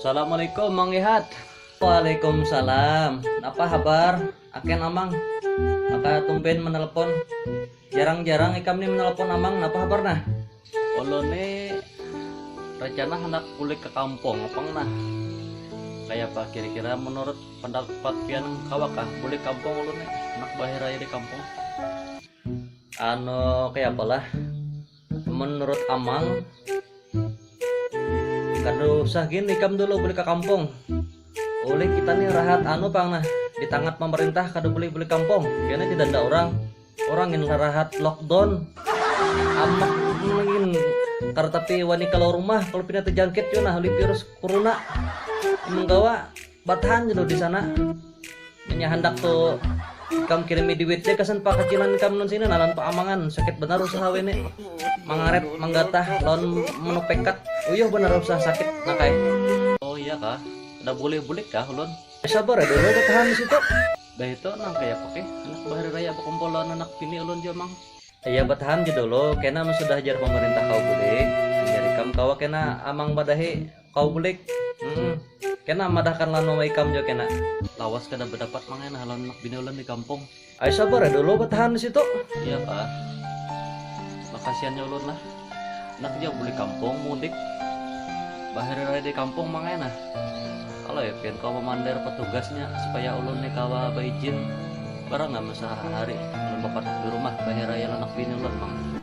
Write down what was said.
Assalamualaikum Mang Lihat. Waalaikumsalam. Napa habar? Aken Amang. Maka tumben menelepon. Jarang-jarang ikam ni menelepon Amang. Napa habar nah? Ulun ni rencana hendak bulik ke kampung apang nah. Kaya apa kira-kira menurut pendapat pian kawakah bulik kampung ulun ni? Hendak bahir aja di kampung. Anu kaya apalah? menurut Amang kada usah gini kam dulu beli ke kampung oleh kita nih rahat anu pang nah di tangat pemerintah kada boleh beli kampung kena tidak ada orang orang yang rahat lockdown amak mungkin kada tapi wani kalau rumah kalau pindah terjangkit yo nah oleh virus corona menggawa Batahan ja dulu di sana. Inya handak tu ikam kirimi duit ja gasan pakacilan kam non sini nah lawan Pak Amangan. Sakit banar usaha wene. Mangaret, manggatah, lawan manupekat. Uyuh banar usaha sakit nak ai. Oh iya kah, kada bulih bulik kah ulun? Sabar ai dulu, batahan di situ. Dah itu nang kaya apa keh, handak bahari raya bakumpul lawan anak bini ulun jua mang. Iya batahan ja dulu, kena mun sudah jar pamarintah kawa bulik, jar ikam kawa kena Amang madahi. Kau bulik. Hmm. Kena madahkan lawan mama ikam jo kena. Lawas kada berdapat mangain halan anak bini ulun di kampung. Ayo sabar ya dulu bertahan di situ. Iya pak. Makasiannya ulun lah. Nak dia beli kampung mudik. Bahari raya di kampung mangain ah. Kalau ya pian kau memandir petugasnya supaya ulun nih kawa beijin barang nggak masa hari ulun bapatuk di rumah bahari raya anak bini ulun mang.